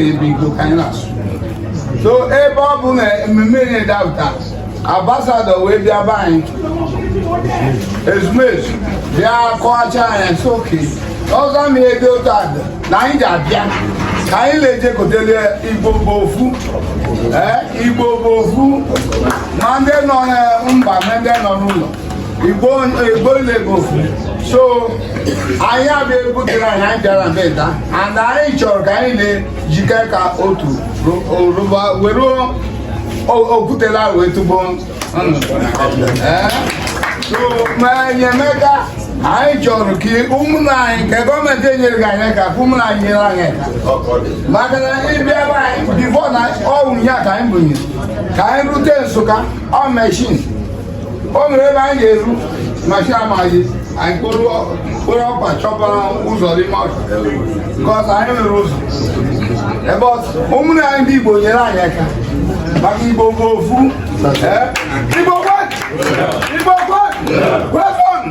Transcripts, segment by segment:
ebe Igbo ka anyị na-asụ so ebe ọ bụ na ememme na-edapụta ambassador wee bịa be anyị ezumezu bịa kọwacha anyị so oke ọzọ ma ebe otu a dị na anyị ji abịa ka anyị na-ejekọtele igbo bụ ofu ee igbo bụ ofu ma ndị nọ na mba ma ndị nọ n'ụlọ igbo igbo ile bụ ofu so anyị abịa egwu gị na anyị bịara mbeda and anyị chọrọ ka anyị na-ejike ka otu rụba were okwutela wee tugbo enyemaka anyị chọrọ ka ụmụnna anyị nke gọọmenti enyereghị anyị ka ụmụnna anyị nyere anyị maka na ịbịa be anyị before na ọwụ ya ka anyị bụnyere ka anyị rute nsụka ọ machine o nwere ebe anyị ga-eru machine amaghị anyị kpọrọ ọkpa chọba ụzọ n'ime ọhịa because anyị nwere ụzọ ebe ọzọ ụmụnne anyị ndị igbo nyere anyị aka maka igbo bụ ofu Eh? igbo kwenu igbo kwenu kwenu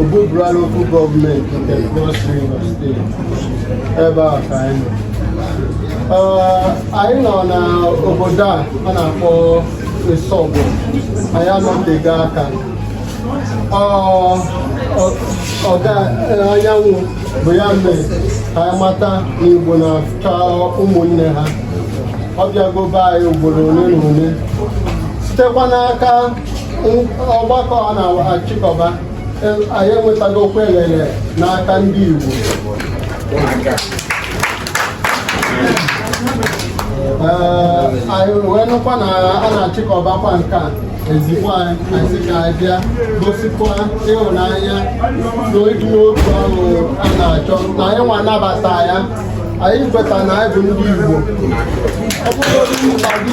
Obubra local government nke Cross River State ebe a ka anyị nọ anyị nọ na obodo a a na-akpọ Isobo anyị anọtego aka ọga anyanwụ bụ ya mere ka anyị mata na Igbo na-achọ ụmụnne ha ọ bịago be anyị ugboro ole na ole sitekwa n'aka ọgbakọ a na-achịkọba anyị enwetago okwu elele n'aka ndị Igbo anyị wee nụkwa na a na-achịkọbakwa nke a ezigbo anyị sị ka anyị bịa gosikwa ịhụnanya na ịdị n'otu ahụ a na-achọ na anyị nwa anabata ya anyị kweta na anyị bụ ndị Igbo ọ bụrụ na ndị